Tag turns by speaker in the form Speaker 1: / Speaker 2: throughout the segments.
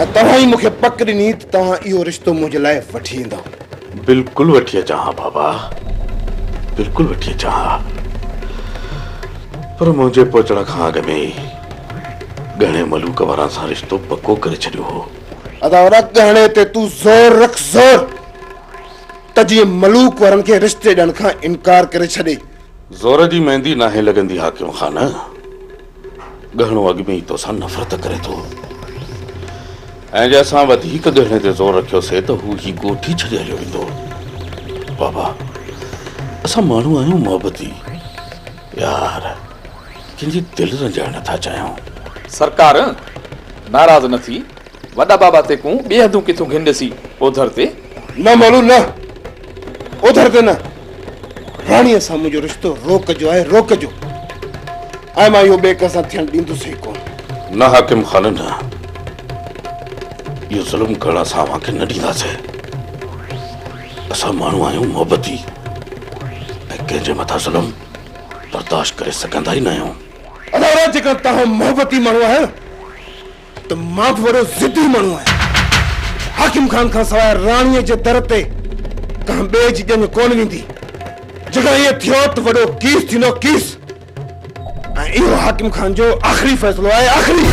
Speaker 1: ۽ توهان ئي مون کي پڪ ڏني ته توهان اهو رشتو منهنجي لاء وٺي ايندؤ. بلڪل وٺي
Speaker 2: اچان ها بابا، بلڪل وٺي اچان ها. پر منهنجي پهچڻ کان اڳ ۾ ئي ڳهڻي ملوڪ وارن سان رشتو پڪو ڪري ڇڏيو هو. ادا وڏا ڳهڻي
Speaker 1: تي تون زور رک زور ته جيئن ملوڪ وارن کي رشتي ڏيڻ کان انڪار ڪري ڇڏي. زور جي
Speaker 2: ميندي ناهي لڳندي حاڪم خان. ڳهڻو اڳ ۾ ئي توسان نفرت ڪري ٿو ۽ جي اسان وڌيڪ ڳهڻي تي زور رکيوسي ته هو هي ڳوٺ ئي ڇڏي هليو ويندو بابا اسان ماڻهو آهيون محبتي يار ڪنهن جي دل رنجائڻ نٿا چاهيون سرڪار
Speaker 3: ناراض نه ٿي وڏا بابا تيڪون ٻي حدون ڪٿيون گهن ڏسي اوڌر تي. نه مولو نه
Speaker 1: اوڌر تي نه. راڻيء سان منهنجو رشتو روڪ جو آهي روڪ جو. ۽ مان اهو ٻئي ڪنهن سان ٿيڻ ڏيندس ئي ڪونه. نه حاڪم
Speaker 2: خان نه. اهو ظلم ڪرڻ اسان اوهان کي نه ڏينداسين. اسان ماڻهو آهيون محبتي ۽ ڪنهن جي مٿان ظلم برداشت ڪري سگهندا ئي نه آهيون. ادا جيڪڏهن
Speaker 1: توهان محبتي ماڻهو آهيو. ته مان به وڏو ضدي ماڻهو آهيان. حاڪم خان کان سواء راڻيء جي در تي ڪنهن ٻئي جي ڄڃ ڪونه ويندي. جيڪڏهن ائين ٿيو ته وڏو ڪيس ٿيندو، ڪيس. ۽ اهو حاڪم خان جو آخري فيصلو آهي، آخري.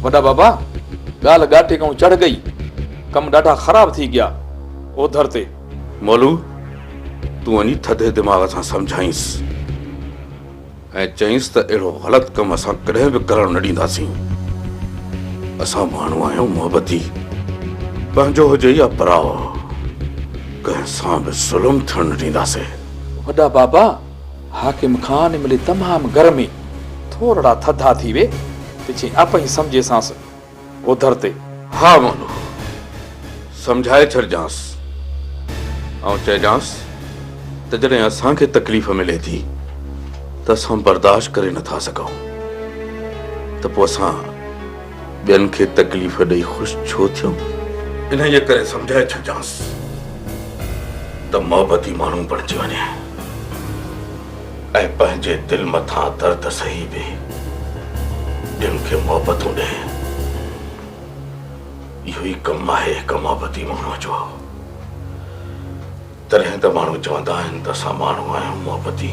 Speaker 3: وڏا بابا، ڳالهه ڳاٽي کان چڙهه ڳئي. ڪم ڏاڍا خراب ٿي ڳيا. اوڌر تي. مولو،
Speaker 2: تون وڃي ٿڌي دماغ سان سمجهائينس ۽ چئينس ته اهڙو غلط ڪم اسان ڪڏهن به ڪرڻ نه ڏينداسين. اسان ماڻهو آهيون محبتي، پنهنجو هجي يا پراء، ڪنهن سان به ظلم ٿيڻ نه ڏينداسين. وڏا بابا،
Speaker 3: حاڪم خان ان ملي تمام گرمي، ٿورڙا ٿڌا ٿي وي ته چيائين، اپهين سمجهيسانس. اوڌر تي، ها مونو،
Speaker 2: سمجهائي ڇڏجانس. آئون چئجانس ته جڏهن اسان کي تڪليف ملي ٿي ته اسان برداشت ڪري نه ٿا سگهون ته پوء اسان ٻين کي تڪليف ڏئي خوش ڇو ٿيون؟ انهيء ڪري سمجهائي ڇڏجانس ته محبتي ماڻهو بڻجي وڃي. ۽ پنهنجي دل مٿان درد سهي به ٻين کي محبتون ڏئي. اهو ئي ڪم آهي هڪ محبتي ماڻهوء جو. تڏهن ته ماڻهو چوندا آهن ته اسان ماڻهو آهيون محبتي.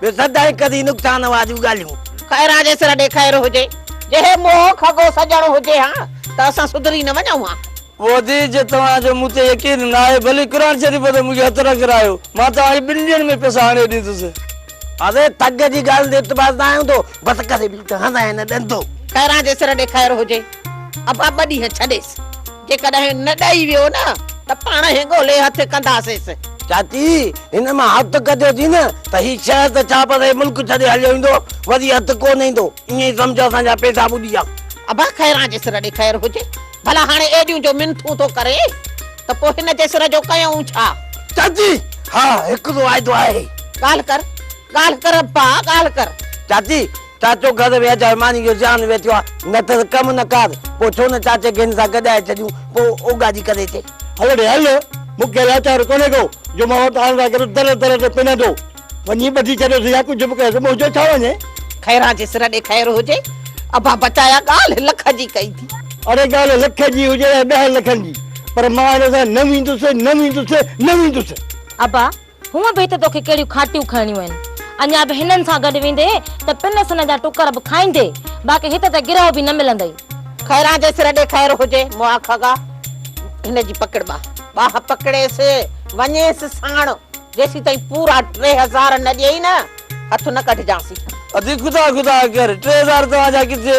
Speaker 4: ٻيو سدائين ڪري نقصان واريون ڳالهيون. خيران جي سر ڏي
Speaker 5: خير هجي. جي هي موهه کڳو سڄڻ هجي ها ته اسان سڌري نه وڃون ها. وزير جي
Speaker 6: توهان جو مون تي يقين ناهي ڀلي قرآن شريف تي مون کي هٿ نه ڪرايو مان توهان کي ٻن ڏينهن ۾ پئسا آڻي ڏيندس. اري ٿڳ
Speaker 4: جي ڳالهه تي اعتبار نه آيو هوندو بس ڪري ڏيو ته هنئين نه ڏندو. خيران جي سر ڏي
Speaker 5: خير هجي. ابا ٻه ڏينهن ڇڏيس. جيڪڏهن نه ڏئي ويو نه ته پاڻ هي ڳولي هٿ ڪنداسينس. چاچي
Speaker 4: هن مان هٿ ڪڍيو ٿي نه ته هي شهر ته ڇا پر هي ملڪ ڇڏي هليو ويندو وري هٿ ڪونه ايندو ائين ئي سمجهه اسان جا پيسا ٻڏي ويا. ابا خيران
Speaker 5: جي سر ڏي خير هجي ڀلا هاڻي ايڏيون جو منٿون ٿو ڪري ته پوء هن جي سر جو ڪيائون ڇا؟ چاچي
Speaker 4: ها هڪ واعدو آهي. ڳالهه ڪر
Speaker 5: ڳالهه ڪر ابا ڳالهه ڪر. چاچي
Speaker 4: چاچو گهر ويهه جاء ماني جو زيان ويٺيو آ نه ته ڪم نه ڪار پو ڇو نه چاچي گهين سان گڏائي ڇڏيون پو او گاڏي ڪري اچي. هل ڙي هل
Speaker 6: مون کي لاچار ڪونهي ڪو جو مان وٽ آڻ لاء گڏو در در تي پنندو وڃي ٻڌي ڇڏيس يا ڪجهه به ڪيس منهنجو ڇا وڃي. خيران جي سر
Speaker 5: ڏي خير هجي ابا بچايا ڳالهه لک جي ڪئي ٿي. اڙي ڳالهه لک
Speaker 6: جي هجي يا ڏهن لکن جي پر مان هن سان نه ويندس نه ويندس
Speaker 7: نه ويندس. ابا
Speaker 6: هونء
Speaker 7: به هت توکي ڪهڙيون کاٽيون کائڻيون آهن. اڃا به هنن سان گڏ ويندي ته پن سن جا ٽڪر به کائيندي، باقي هت ته گرهه به نه ملندئي. خيران جي سر
Speaker 5: ڏي خير هجي، مئا کڳا هن جي پڪڙ ٻاهه ٻاهه پڪڙيس، وڃيس ساڻ، جيسين تائين پورا ٽي هزار نه ڏيئي نه، هٿ نه ڪڍجانسين. ادي خدا خدا
Speaker 4: ڪر، ٽي هزار توهان جا ڪٿي؟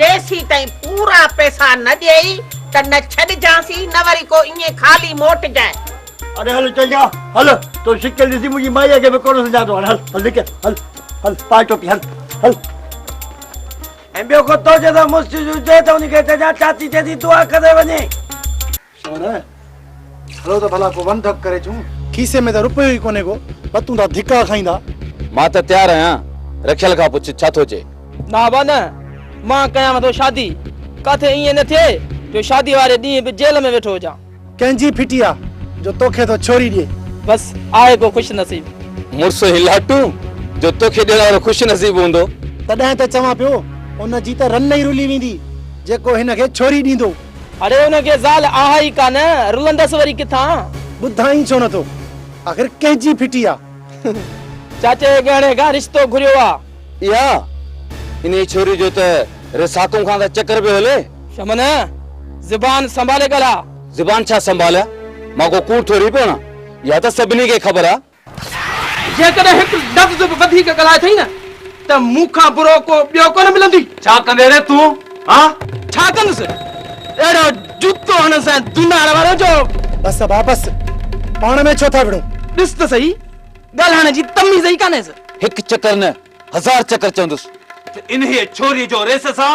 Speaker 5: جيسيتائين پورا پئسا نه ڏيئي ته نه ڇڏجانسين نه وري ڪو ائين خالي موٽجانء. اڙي هل چئجا
Speaker 6: هل تو شڪل ڏسي منهنجي مائيء کي به ڪونه سڃاتو هاڻي هل هل نڪر هل هل پائي ٽوپي هل هل.
Speaker 4: ۽ ٻيو ڪو تو جي سان مشڪل هجي ته ان کي چئجانء چاچي چئي ٿي دعا ڪري وڃي.
Speaker 6: سهرا! هلو ته ڀلا ڪو ون ڌڪ ڪري اچون. کيسي ۾ ته رپيو ئي ڪونهي ڪو، بتون ٿا ڌڪا کائيندا. مان ته تيار
Speaker 8: آهيان، رکيل کان پڇ ڇا ٿو چئي. نه با نه،
Speaker 9: مان ڪيانء ٿو شادي. ڪاٿي ائين نه ٿئي جو شاديء واري ڏينهن به جيل ۾ ويٺو هجان. ڪنهن جي ڦٽي آ
Speaker 6: جو توکي ٿو ڇوري ڏئي. بس آهي
Speaker 9: ڪو خوش نصيب. مڙس هيلاٽون
Speaker 8: جو توکي ڏيڻ وارو خوش نصيب هوندو. تڏهن ته چوان
Speaker 6: پيو، ان جي ته رن ئي رلي ويندي، جيڪو هن کي ڇوري ڏيندو. اڙي ان کي
Speaker 9: زال آهي ئي ڪا نه، رلندس وري ڪٿان؟ ٻڌائين ڇو
Speaker 6: نٿو؟ آخر ڪنهن جي ڦٽي آ؟
Speaker 9: چاچي جي ڳهڻي کان رشتو گهريو آ. اها
Speaker 8: انهيء ڇوري جو ته رساڪون کان ته چڪر پيو هلي. شمن!
Speaker 9: زبان سنڀالي ڳالهاء. زبان ڇا سنڀاليان؟
Speaker 8: مان ڪو ڪوڙ ٿوري پيو هڻان. اها ته سڀني کي خبر آ جيڪڏهن
Speaker 9: هڪ لفظ به وڌيڪ ڳالهائي ٿئي نه ته مون کان برو ڪو ٻيو ڪونه ملندي. ڇا ڪندين ري تون
Speaker 2: هان؟ ڇا ڪندس؟
Speaker 9: اهڙو جوتو هڻنس ۽ دونار وارو جو. بس ابا بس،
Speaker 6: پاڻ ۾ ڇو ٿا وڙهو. ڏس ته سهي،
Speaker 9: ڳالهائڻ جي تميز ئي ڪانهيس. هڪ چڪر نه
Speaker 8: هزار چڪر چوندس. ته انهيء
Speaker 2: ڇوريء جو ريس سان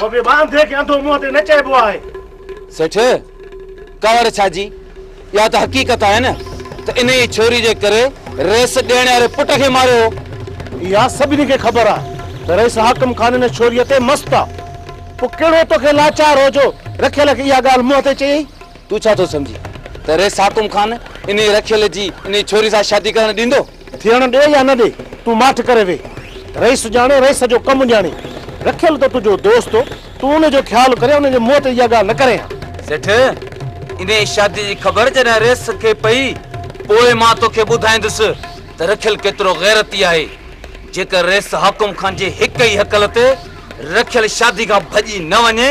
Speaker 2: هو به واندي کي انڌو منهن تي نه چئبو آهي. سيٺ،
Speaker 8: ڪاوڙ ڇا جي؟ اها ته حقيقت آهي نه ته انهيء ڇوري جي ڪري رئيس ڏيڻي واري پٽ کي ماريو هو. اها سڀني کي
Speaker 6: خبر آهي ته رئيس حاڪم خان ان ڇوريء تي مست آهي. پوء ڪهڙو تو کي لاچار هو جو رکيل کي اها ڳالهه منهن تي چيئي؟ تون ڇا ٿو سمجهين
Speaker 8: ته رئيس حاڪم خان انهيء رکيل جي انهيء ڇوري سان شادي ڪرڻ ڏيندو؟ ٿيڻ ڏي يا نه
Speaker 6: ڏي، تون ماٺ ڪري ويهه. رئيس ڄاڻي، رئيس جو ڪم ڄاڻي. رکيل ته تنهنجو دوست هو، تون ان جو خيال ڪرين، ان جي منهن تي اها ڳالهه نه ڪرين ها. سيٺ،
Speaker 8: انهيء شاديء جي خبر جڏهن رئيس کي پئي، پوء مان توکي ٻڌائيندس ته رکيل ڪيترو غيرتي آهي. جيڪر رئيس حاڪم خان جي هڪ ئي هڪل تي رکيل شاديء کان ڀڄي نه وڃي،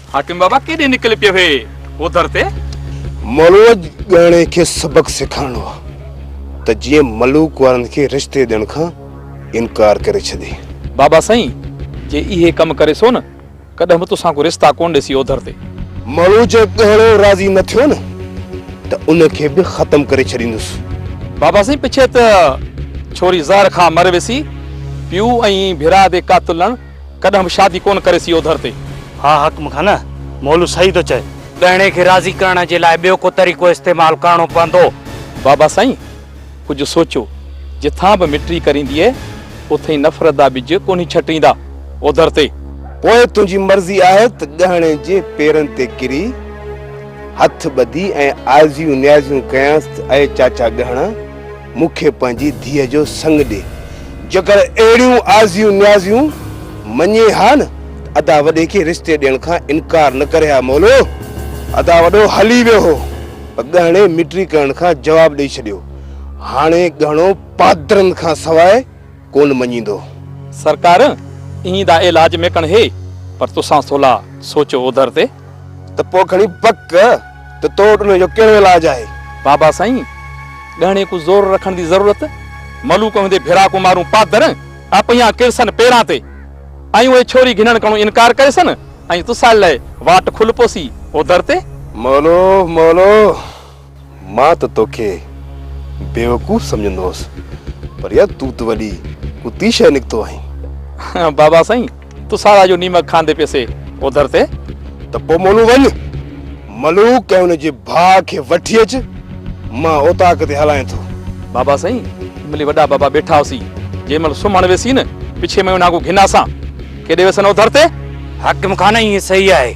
Speaker 3: حاڪم بابا ڪيڏي نڪل پيو هي اوڌر تي. مروج
Speaker 1: ڳاڻي کي سبق سيکارڻو آ ته جيئن ملوڪ وارن کي رشتي ڏيڻ کان انڪار ڪري ڇڏي. بابا سائين
Speaker 3: جي اهي ڪم ڪري سو نه ڪڏهن به توسان ڪو رشتا ڪون ڏسي اوڌر تي. مروج
Speaker 1: ڳاڻو راضي نه ٿيو نه ته ان کي به ختم ڪري ڇڏيندس. بابا
Speaker 3: سائين پڇي ته ڇوري زهر کان مر وسي پيو ۽ ڀيرا دي ڪا تلڻ. ڪڏهن به شادي ڪونه ڪريس اهو ڌر تي. ها حق مون کان نه.
Speaker 6: مولو صحيح ٿو چئي. ڳهڻي کي راضي
Speaker 8: ڪرڻ جي لاء ٻيو ڪو طريقو استعمال ڪرڻو پوندو. بابا سائين
Speaker 3: ڪجهه سوچو. جٿان به مٽي ڪرينديء، اٿئين نفرت جا ٻج ڪونهي ڇٽيندا اهو ڌر تي. پوء تنهنجي
Speaker 1: مرضي آهي ته ڳهڻي جي پيرن تي ڪري هٿ ٻڌي ۽ آزيون نيازيون ڪيانس ته اي چاچا ڳهڻا! مون کي پنهنجي ڌيء جو سڱ ڏي. جيڪر اهڙيون آزيون نيازيون مڃين ها نه ته ادا وڏي کي رشتي ڏيڻ کان انڪار نه ڪري ها مولو. ادا وڏو هلي ويو هو پر ڳهڻي مٽري ڪرڻ کان جواب ڏئي ڇڏيو. هاڻي ڳهڻو پادرن کان سواء ڪونه مڃيندو. سرڪار ايئن
Speaker 3: دا علاج ۾ ڪڻ هي، پر تسان ٿولا سوچو اوڌر تي. ته پوء کڻي
Speaker 1: پڪ ته تو وٽ انهيء جو ڪهڙو علاج آهي؟ بابا سائين،
Speaker 3: ڳهڻي ڪو زور رکڻ دي ضرورت؟ ملوڪ هوندي ڀيرا ڪو مارون پادر اپهيان ڪرسن پيران تي، ۽ اهي ڇوري گهنڻ ڪڻو انڪار ڪريسن، ۽ تسان لئه واٽ کل پوسي اوڌر تي. مولو!
Speaker 1: مولو! مان ته توکي بيوقوف سمجهندو هوس پر يار تون ته وڏي ڪتي شيء نڪتو آهين. بابا سائين
Speaker 3: تون سارا جو نيمڪ کاندي پيسي اوڌر تي. ته پوء مولون
Speaker 1: وڃ ملوڪ ۽ ان جي ڀاء کي وٺي اچ مان اوطاق تي هلائين ٿو. بابا سائين
Speaker 3: جنهن مهل وڏا بابا بيٺا هوسين جنهن مهل سمهڻ ويسين پڇي ميون ناگو گهنا سان ڪيڏي ويسن اوڌر تي. حاڪم خان
Speaker 6: ائين صحيح آهي.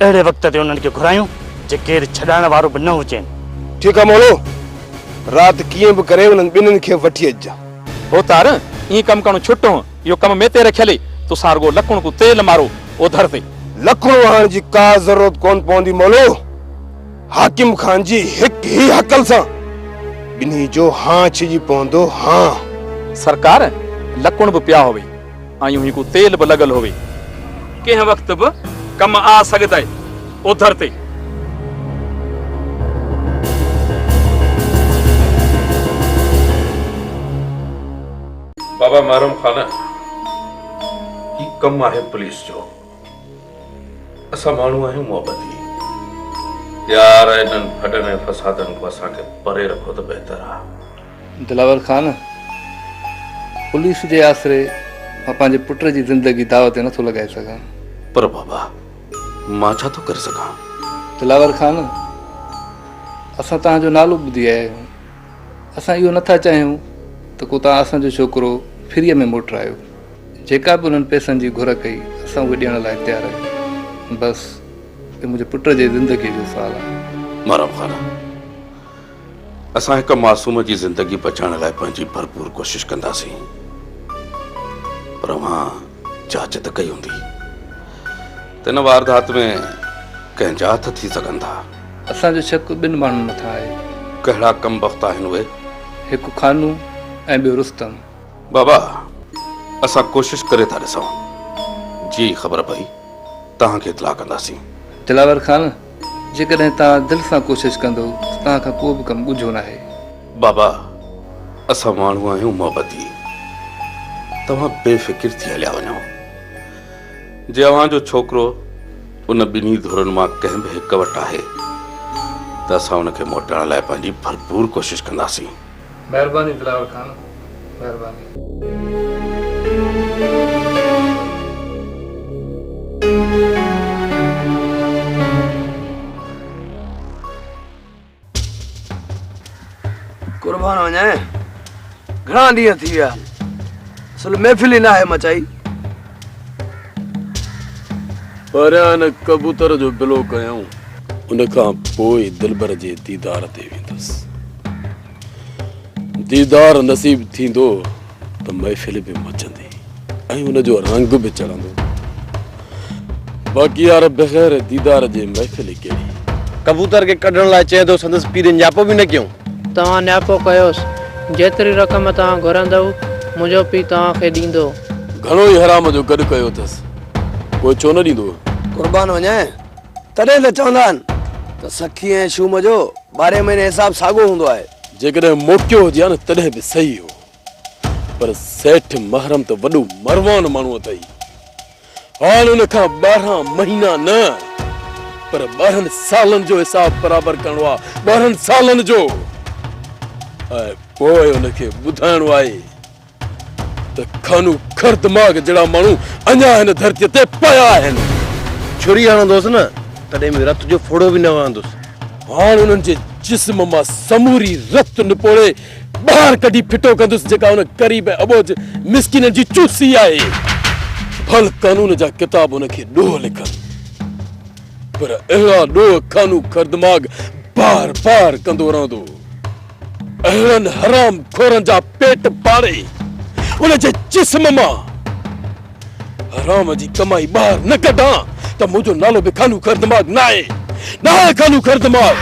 Speaker 6: اهڙي وقت تي انهن کي گهرايون جي ڪير ڇڏائڻ وارو به نه هجين. ٺيڪ آ مولو،
Speaker 1: رات ڪيئن به ڪري انهن ٻنهين کي وٺي اچجان. ڀوتار،
Speaker 3: ايئن ڪم ڪرڻو ڇٽ هون، اهو ڪم مين تي رکيل هي، توسان رڳو لڪڻ ڪو تيل مارو اوڌر تي. لڪڻ وهائڻ جي
Speaker 1: ڪا ضرورت ڪونه پوندي مولو، حاڪم خان جي هڪ هي هڪل سان ٻنهين جو هانء ڇڄي پوندو هانء. سرڪار،
Speaker 3: لڪڻ به پيا هئي. آيون هي ڪو تيل به لڳل هوي. ڪنهن وقت به ڪم آ سگهدئ اوڌر تي.
Speaker 2: بابا محرم خان هي ڪم آهي پوليس جو اسان ماڻهو آهيون محبتي يار انهن ڦڏن ۽ فسادن کان اسان کي پري رکو ته بهتر آ. دلاور خان
Speaker 10: پوليس جي آسري مان پنهنجي پٽ جي زندگي داء تي نٿو لڳائي سگهان. پر بابا
Speaker 2: مان ڇا ٿو ڪري سگهان. دلاور خان
Speaker 10: اسان توهان جو نالو ٻڌي آيا آهيون. اسان اهو نٿا چاهيون ته ڪو توهان اسان جو ڇوڪرو فريء ۾ موٽرايو. جيڪا به انهن پئسن جي گهر ڪئي اسان اهي ڏيڻ لاء تيار آهيون. بس اهو منهنجي پٽ جي زندگيء جو سوال آهي. مارام خان
Speaker 2: اسان هڪ معصوم جي زندگي بچائڻ لاء پنهنجي ڀرپور ڪوشش ڪنداسين پر اوهان جاچ ته ڪئي هوندي ته ان واردات ۾ ڪنهن جا هٿ ٿي سگهن ٿا اسان جو شڪ
Speaker 10: ٻن ماڻهن مٿان آهي ڪهڙا ڪم
Speaker 2: بخت آهن اهي؟ هڪ خانو
Speaker 10: ۽ ٻيو رستم. بابا
Speaker 2: اسان ڪوشش ڪري ٿا ڏسون جيئي خبر پئي توهان کي اطلاع ڪنداسين. دلاور خان
Speaker 10: جيڪڏهن توهان دل سان ڪوشش ڪندو ته توهان کان ڪو به ڪم ڳجهو ناهي. بابا
Speaker 2: اسان ماڻهو آهيون محبتي توهان بي فڪر ٿي هليا وڃو جي اوهان جو ڇوڪرو ان ٻنهي ڌرين مان ڪنهن به هڪ وٽ آهي ته اسان ان کي موٽائڻ لاء پنهنجي ڀرپور ڪوشش ڪنداسين.
Speaker 10: مهرباني
Speaker 9: دلاور خان مهرباني. قربان وڃان گهڻا ڏينهن ٿي ويا اصل محفل ئي ناهي مچائي
Speaker 11: پهريان هن ڪبوتر جو بلو ڪيائون. ان کان پوء دلبر جي ديدار تي ويندس. ديدار نصيب ٿيندو ته محفل به مچندي ۽ ان جو رنگ به چڙهندو. باقي يار بغير ديدار جي محفل ڪهڙي. ڪبوتر کي ڪڍڻ لاء
Speaker 6: چيو ته سندس پير ڃاپو به نه ڪيائون. توهان نياپو
Speaker 9: ڪيوس، جيتري رقم توهان گهرندؤ، منهنجو پيء توهان کي ڏيندو. گهڻو ئي حرام
Speaker 11: جو گڏ ڪيو اٿس، پوء ڇو نه ڏيندو؟ قربان وڃائين،
Speaker 9: تڏهن ته چوندا آهن ته سخي ۽ شوم جو ٻارهين مهيني حساب ساڳو هوندو آهي. جيڪڏهن موقعو
Speaker 11: هجي ها نه تڏهن به صحيح هو. پر سيٺ محرم ته وڏو مروان ماڻهو اٿئي. هاڻ ان کان ٻارهن مهينا نه پر ٻارهن سالن جو حساب برابر ڪرڻو آ، ٻارهن سالن جو. ۽ پوء ان کي ٻڌائڻو آهي ته کانو کر دماغ جهڙا ماڻهو اڃا هن ڌرتيء تي پيا آهن. ڇري
Speaker 6: هڻندوس نه تڏهن به رت جو ڦڙو به نه وهندوس. هاڻ انهن جي
Speaker 11: جسم مان سموري رت نپوڙي ٻاهر ڪڍي ڦٽو ڪندس جيڪا ان غريب ۽ اٻوجهه مسڪينن جي چوسي آهي. ڀل قانون جا ڪتاب ان کي ڏوهه لکن پر اهڙا ڏوهه خانو خردماغ بار بار ڪندو رهندو. اهڙن حرام خورن جا پيٽ ڦاڙي ان جي جسم مان حرام جي ڪمائي ٻاهر نه ڪڍ ها ته منهنجو نالو به خانو خر دماغ ناهي ناهي خانو خر دماغ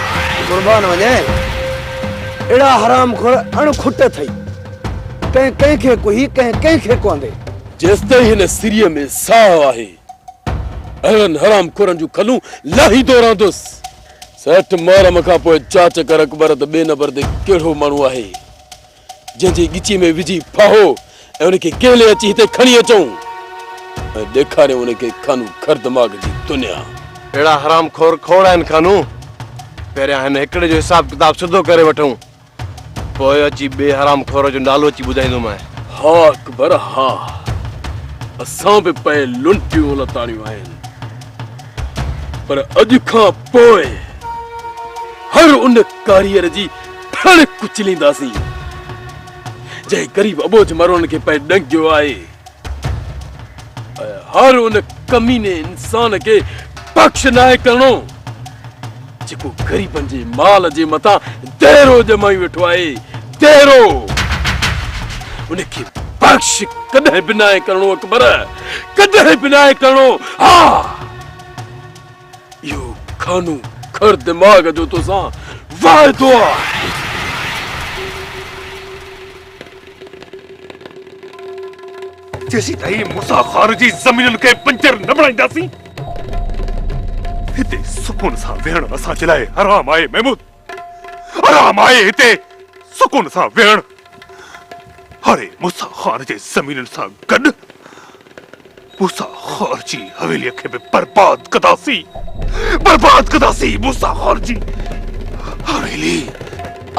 Speaker 11: قربان وڃين
Speaker 6: اهڙا حرام خور اڻ کٽ اٿئي ڪنهن ڪنهن کي ڪوهي ڪنهن ڪنهن کي ڪوندي جيستائين هن
Speaker 11: سري ۾ ساهه آهي اهڙن حرام خورن جون کلون لاهيندو رهندس سيٺ محرم کان پوء چاچڪر اڪبر ته ٻئي نمبر تي ڪهڙو ماڻهو آهي جنهن جي ڳچيء ۾ وجهي ڦاهو ۽ ان کي ڪهلي اچي هتي کڻي اچون ۽ ڏيکاريون ان کي کانو کر دماغ جي دنيا. اهڙا حرام
Speaker 6: خور کوڙ آهن کانو. پهريان هن هڪڙي جو حساب ڪتاب سڌو ڪري وٺون. پوء اچي ٻئي حرام خور جو نالو اچي ٻڌائيندومانء. ها اڪبر
Speaker 11: ها. اسان به پئي لنٽيون لتاڙيون آهن. پر اڄ کان پوء هر ان ڪاريئر جي پڻ ڪچلينداسين جنهن غريب ابوجھ مرون کي پئي ڏنگيو آهي هر ان ڪميني انسان کي بخش ناهي ڪرڻو جيڪو غريبن جي مال جي مٿان دهرو ڄمائي ويٺو آهي دهرو ان کي بخش ڪڏهن به ناهي ڪرڻو اڪبر ڪڏهن به ناهي ڪرڻو ها اهو کانو کر دماغ جو توسان وعدو آ.
Speaker 12: جيسيتائين موسيٰ غار جي زمينن کي بنجر نه بڻائينداسين، هتي سڪون سان ويهڻ اسان جي لاء حرام آهي محمود! حرام آهي هتي سڪون سان ويهڻ. هاري موسيٰ خان جي زمينن سان گڏ موسيٰ خان جي حويليء کي به برباد ڪنداسين. برباد ڪنداسين موسيٰ خان جي حويلي.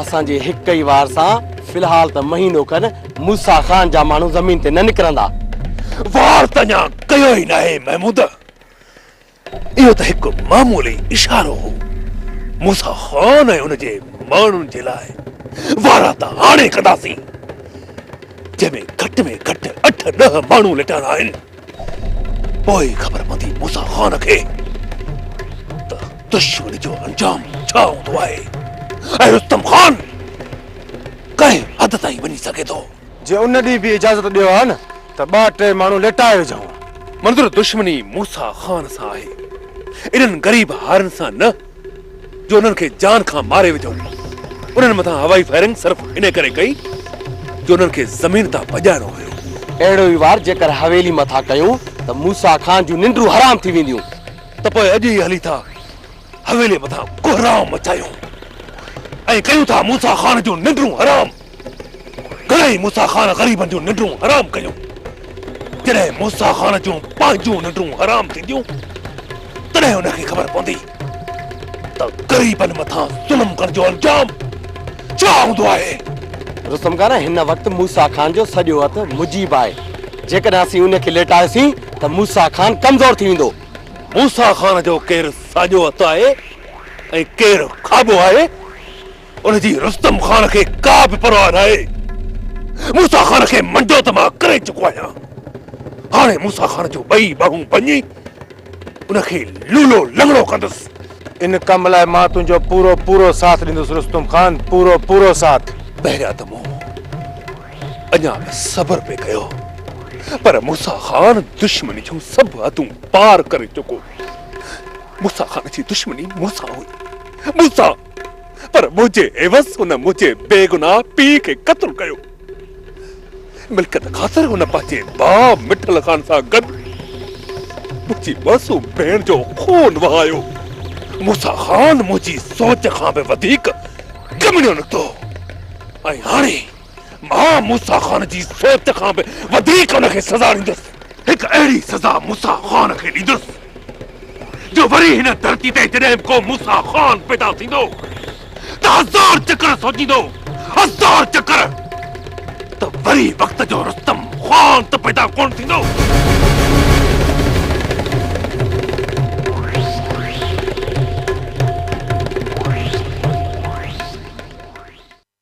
Speaker 12: اسان
Speaker 6: جي هڪ ئي وار سان في الحال ته مهينو کن موسيٰ خان جا ماڻهو زمين تي نه نڪرندا. وار
Speaker 12: ته اڃا ڪيو ئي ناهي محمود. اهو ته هڪ معمولي اشارو هو. موسيٰ خان ۽ ان جي ماڻهن جي لاء وارا ته هاڻي ڪنداسين، جنهن ۾ گهٽ ۾ گهٽ اٺ ڏهه ماڻهو لٽاڻا آهن. پوء ئي خبر پوندي موسيٰ خان کي ته دشمن جو انجام ڇا هوندو آهي ۽ رستم خان ڪنهن حد تائين وڃي سگهي ٿو. جي ان ڏينهن به
Speaker 6: اجازت ڏيو ها نه ته ٻه ٽي ماڻهو ليٽائي وجهون. منظور دشمني
Speaker 12: موسيٰ خان سان آهي، انهن غريب هارين سان نه، جو انهن کي جان کان ماري وجهون. انهن مٿان هوائي فائرنگ صرف انهي ڪري ڪئي، جو انهن کي زمين تان ڀڄائڻو هيو. اهڙو ئي وار
Speaker 6: جيڪر حويلي مٿان ڪيون ته موسيٰ خان جون ننڊون حرام ٿي وينديون. ته پوء اڄ ئي
Speaker 12: هلي ٿا حويليء مٿان ڪهرام مچايو ۽ ڪيون ٿا موسيٰ خان جون ننڊون حرام. گهڻائي موسيٰ خان غريبن جون ننڊون حرام ڪيون. جڏهن موسيٰ خان جون پنهنجون ننڊون حرام ٿينديون تڏهن ان کي خبر پوندي ته غريبن مٿان ظلم ڪرڻ جو انجام ڇا هوندو آهي. رستم خان
Speaker 6: هن وقت موسيٰ خان جو سڄو هٿ مجيب آهي. جيڪڏهن اسين ان کي ليٽايوسين ته موسيٰ خان ڪمزور ٿي ويندو. موسيٰ خان
Speaker 12: جو ڪير ساڄو هٿ آهي ۽ ڪير کاٻو آهي، ان جي رستم خان کي ڪا به پرواهه ناهي. موسيٰ خان کي منڊو ته مان ڪري چڪو آهيان. هاڻي موسيٰ خان جون ٻئي ٻانهون ڀڃي، ان کي لولو لنگڙو ڪندس. ان ڪم لاء
Speaker 6: مان تنهنجو پورو پورو ساٿ ڏيندس رستم خان، پورو پورو ساٿ. بهريا ته مون
Speaker 12: اڃا ته صبر به ڪيو پر موسيٰ خان دشمن جون سڀ حدون پار ڪري چڪو هو. موسيٰ خان جي دشمني مون سان هئي، مون سان، پر منهنجي عيوض هن منهنجي بيگناهه پيء کي قتل ڪيو. ملڪيت خاطر هن پنهنجي ڀاء مٺل خان سان گڏ منهنجي معصوم ڀيڻ جو خون وهايو. موسيٰ خان منهنجي سوچ کان به وڌيڪ ڪميڻيو نڪتو ۽ هاڻي مان موسيٰ خان جي سوچ کان به وڌيڪ ان کي سزا ڏيندس. هڪ اهڙي سزا موسيٰ خان کي ڏيندس جو وري هن ڌرتي تي جڏهن به ڪو موسيٰ خان پيدا ٿيندو ته هزار چڪر سوچيندو، هزار چڪر ته وري وقت جو رستم خان ته پيدا ڪونه ٿيندو.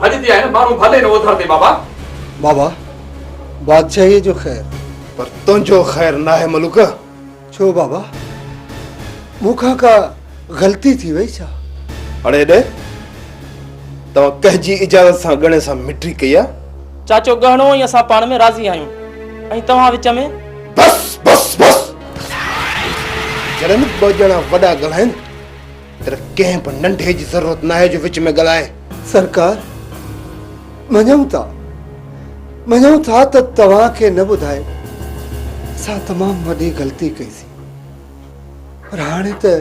Speaker 3: ڀڄتي آهن ماڻهو ڀلي نه اوڌر تي بابا.
Speaker 1: بابا بادشاهيء جو خير. پر تنهنجو خير ناهي ملوڪ. ڇو بابا مون کان ڪا غلطي ٿي وئي ڇا؟ اڙي ڙي توهان ڪنهن جي اجازت سان ڳڻي سان مٽري ڪئي آهي؟ چاچو ڳهڻو
Speaker 9: ۽ اسان پاڻ ۾ راضي آهيون ۽ توهان وچ ۾. بس بس
Speaker 1: بس جڏهن ٻه ڄڻا وڏا ڳالهائين تر ڪنهن به ننڍي جي ضرورت ناهي جو وچ ۾ ڳالهائي. سرڪار، مڃون ٿا. مڃون ٿا ته توهان کي نه ٻڌائي اسان تمام وڏي غلطي ڪئي سي. پر هاڻي ته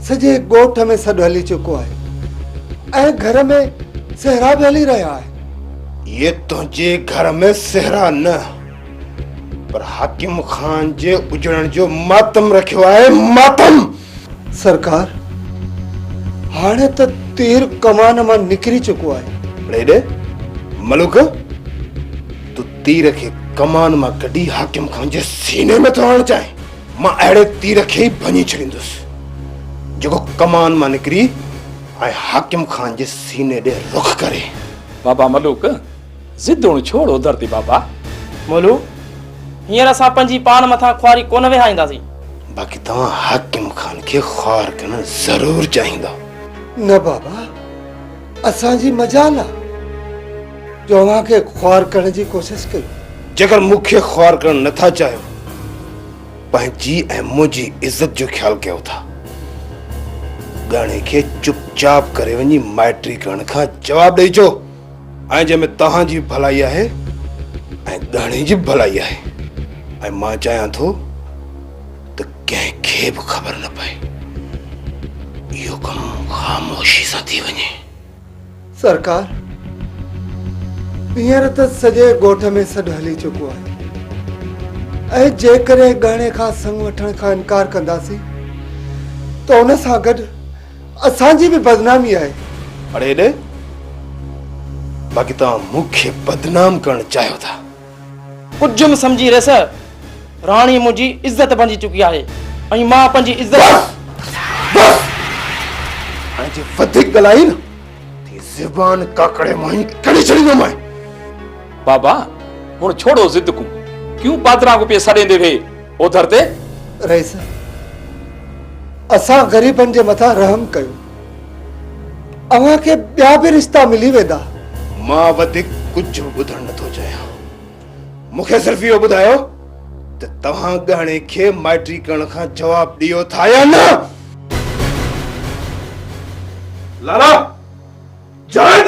Speaker 1: سڄي ڳوٺ ۾ سڏ هلي چڪو آهي ۽ گهر ۾ سهرا به هلي رهيا آهن. اهي تنهنجي گهر ۾ سهرا نه پر حاڪم خان جي اجڙڻ جو ماتم رکيو آهي. ماتم! سرڪار، هاڻي ته تير ڪمان مان نڪري چڪو آهي. اڙي ڙي، ملوڪ، تون تير کي ڪمان مان ڪڍي حاڪم خان جي سيني ۾ ٿو هڻڻ چاهين؟ مان اهڙي تير کي ئي ڀڃي ڇڏيندس، جيڪو ڪمان مان نڪري ۽ حاڪم خان جي سيني ڏي رخ ڪري. بابا ملوڪ،
Speaker 3: ضد هڻ ڇوڙ اڌر تي بابا. مولو،
Speaker 9: هينئر اسان پنهنجي پاڻ مٿان خواري ڪونه وهائينداسين. باقي توهان
Speaker 1: حاڪم خان کي خوار ڪرڻ ضرور چاهيندا. نه بابا، اسان جي مجال آ جو اوهان کي خوار ڪرڻ جي ڪوشش ڪيون. جيڪر مون کي خوار ڪرڻ نه ٿا چاهيو، پنهنجي ۽ منهنجي عزت جو خيال ڪيو ٿا. ڳاڻي کي چپ چاپ ڪري وڃي مائٽري ڪرڻ کان جواب ڏئي اچو. ۽ جنهن ۾ توهان جي به ڀلائي آهي ۽ ڳهڻي جي به ڀلائي آهي ۽ مان چاهيان ٿو ته ڪنهن کي به خبر نه پئي اهو ڪم خاموشي سان ٿي وڃي. سرڪار، هينئر ته سڄي ڳوٺ ۾ سڏ هلي چڪو آهي ۽ جيڪڏهن ڳهڻي کان سڱ وٺڻ کان انڪار ڪنداسين ته ان سان گڏ اسان جي به بدنامي آهي. اڙي هيڏ! باقي توهان مون کي بدنام ڪرڻ چاهيو ٿا. ڪجهه
Speaker 9: سمجهي ريس! راڻي منهنجي عزت بنجي چڪي آهي ۽ مان پنهنجي عزت. بس! بس! هاڻي
Speaker 1: جي وڌيڪ ڳالهائين ته هي زبان ڪاڪڙي مان ئي ڪڍي ڇڏيندومانء. بابا
Speaker 3: هن ڇوڙو ضد ڪون ڪيون پادران ڪو پي سڏيندي وي اوڌر تي رئيس
Speaker 1: اسان غريبن جي مٿان رحم ڪيو اوهان کي ٻيا به رشتا ملي ويندا مان وڌيڪ ڪجهه ٻڌڻ نٿو چاهيان مون کي صرف اهو ٻڌايو ته توهان ڳهڻي کي مائٽي ڪرڻ کان جواب ڏيو ٿا يا نه لالا جائد